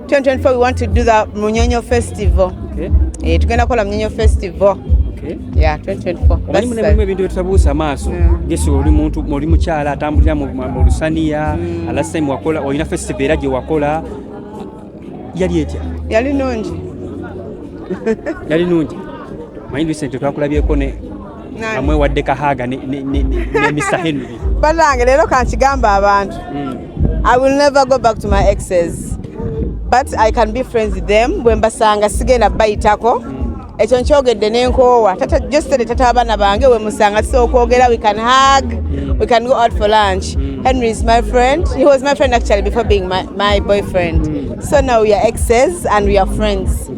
2024 we want to do the Munyonyo Festival. Okay. Eh, tugenda kola Munyonyo Festival. Okay. Yeah, 2024. Omanyi mune mwe bintu bitabuusa maaso. Mm. Gesi oli muntu oli mukyala atambulira mu lusaniya, mm. last time wakola olina festival era gye wakola yali etya? Yali nungi. Yali nungi. Manyi Vincent twakulabyeko ne amwe wadde kahaaga ne Mr Henry banange leero kankigamba abantu hmm. I will never go back to my exes but I can be friends with them bwe mbasanga sigenda bayitako hmm. ekyo nkyogedde nenkoowa josere tata abaana bange wemusanga tusobola okwogera we can hug hmm. we can go out for lunch henry is my friend he was my friend actually before being my, my boyfriend so now we are exes and we are friends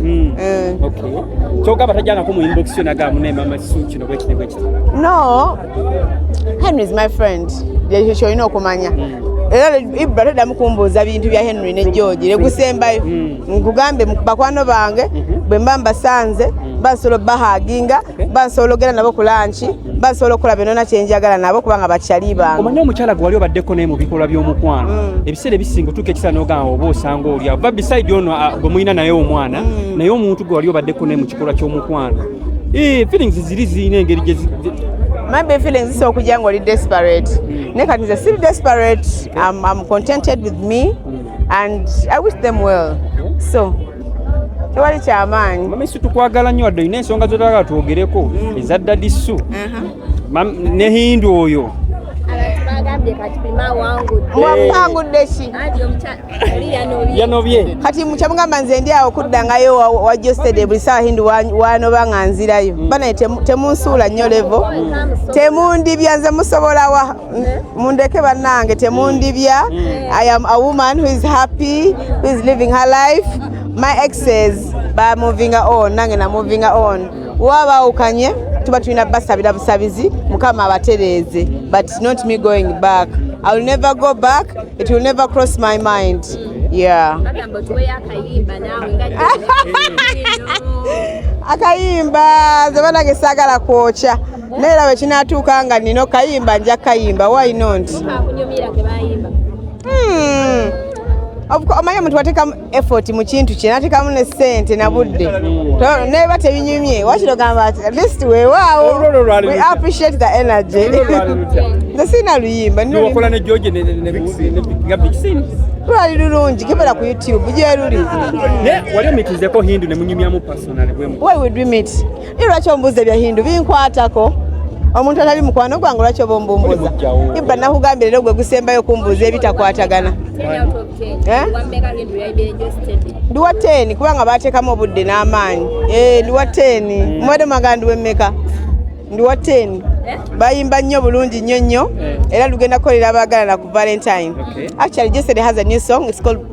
Hmm. Eh. kyogamba tajangako mu inbox yo nagamu naye mama kisu kino bwekiti bwekiti no henry is my friend yekyo kyolina okumanya hmm. era ibra taddamu kumbuuza bintu bya henry ne george legusembayo hmm. nkugambe bakwano bange mhm. bwe mba mbasanze bansobola obahaginga bansobola ogenda nabo ku lanki basobola okukola byonona kyenjagala nabo kubanga bakyali bange omanye omukyala gwe wali obaddeko naye mu bikolwa by'omukwano mm. ebiseera ebisinga otuuka ekisala nogamba oba osanga oli ava bisaidi ono ah, gwe mulina naye omwana mm. naye omuntu gwe wali obaddeko naye mu kikolwa ky'omukwano eh, feelings ziri zirina engeri maybe feelings zisobola okujja nga oli desperate mm. naye kati nze siri desperate am contented with me and i wish them well so tewali kyamaanyi mama isu tukwagala nnyo wadde olina ensonga zotagala twogereko mm. eza dadi su uh-huh. ne hindu oyo mwapangudde ki yanobye kati mukyamugamba nze ndi awo kuddangayo wajostede buli sawa hindi wanoba nga nzirayo mm. banaye temunsuula nnyo levo mm. temundibya nze musobolawa mundeke banange temundibya mm. i am a woman who is happy who is living her life my exes ba moving on nange na moving on wabawukanye tuba tulina basabira busabizi mukama abatereeze but not me going back i will never go back it will never cross my mind yeah akayimba zebanange sagala kwokya naye era bwekinaatuuka nga nina okayimba nja kayimba why not hmm. omanyi omuntu wateekamu effort mu kintu kye nateekamu ne ssente na budde neba tebinyumye wakiro gamba ati at least wewaawo we appreciate the energy nze sirina luyimba lwali lulungi kebera ku youtube gyeruli wali omitizeko hindu nemunyumyamu personal why would we meet Lwaki ombuuza ebya Hindu binkwatako omuntu atali mukwano gwange lwaki oba ombumbuuza ibba nakugambira era gwe gusembayo kumbuuza ebitakwatagana eh? ndiwa teeni kubanga bateekamu obudde n'amaanyi eh, ndiwa teeni hmm. mubadde magandi wemmeka ndiwa teeni eh? bayimba nnyo bulungi nnyo nnyo era lugenda kukolera abaagalana ku valentine actually jesed has a new song it's called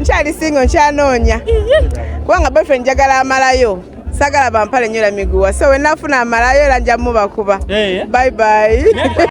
nkyali singo nkyanoonya kubanga boyfriend njagala amalayo sagala bampale nyola miguwa so wenafuna amalayo era nja mubakuba eh. bye bye